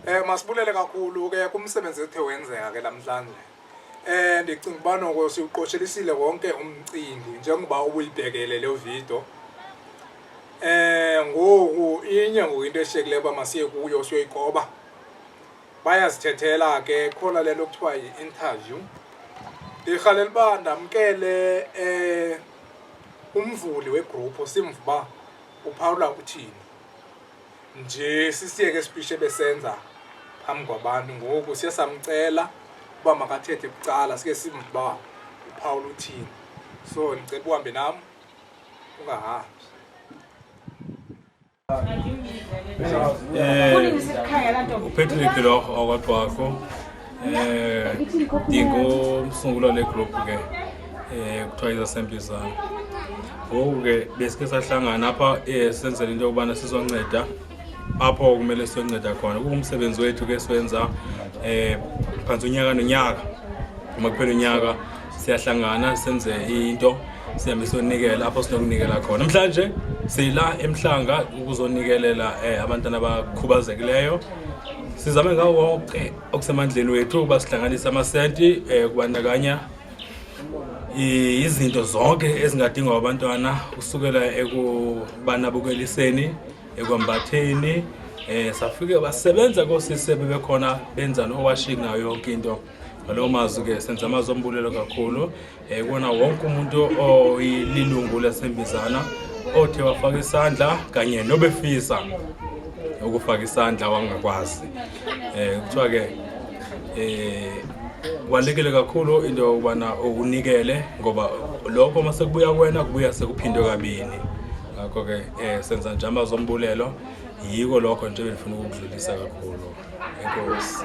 Eh masibulele kakhulu ke kumsebenzi ethe wenzeka ke namhlanje. Eh ndicinga uba noko siwuqoshelisile wonke umcimbi njengoba ubuyibhekele le video. Eh ngoku inye ngoku into eshekileyo uba masiye kuyo siyoyikoba. Bayazithethela ke khona le nto kuthiwa yi-interview. Ndirhalela uba ndamkele eh umvuli wegroup simva uba uphawula uthini. nje sisiyeke isiphishi ebesenza phambi kwabantu ngoku siye samcela uba makathethe kucala sike simba uphawula uthini so ndicela uhambe nam ungahambi um upatrick loko okwaqwakho ndingomsunguli eh, wale gruphu ke um kuthiwa izasempi zam ngoku ke besike sahlangana apha um senzela into yokubana sizonceda apho kumele siyonceda khona kungumsebenzi wethu ke siwenza um phantsi unyaka nonyaka uma kuphela unyaka siyahlangana senze into sihambe siyonikela apho sinokunikela khona namhlanje sila emhlanga ukuzonikelela um eh, abantwana abakhubazekileyo sizame ngawo wonke okusemandleni wethu ukuba sihlanganise amasenti um eh, kubandakanya izinto zonke ezingadingwa abantwana kusukela ekubanabukeliseni ekwambatheni um safike basebenza koosisi bebekhona benza nowashing nayo yonke into ngaloo mazwi ke senza amazwi ombulelo kakhulu um kona wonke umuntu oyililungu lasembizana othe wafaka isandla kanye nobefisa ukufaka isandla wangakwazi um kuthiwa ke um kubalulekile kakhulu into yokubana unikele ngoba lokho uma sekubuya kwena kubuya sekuphindwe kabini ngakho ke um senza nje amazwi ombulelo yiko lokho nje bendifuna ukukudlulisa kakhulu enkosi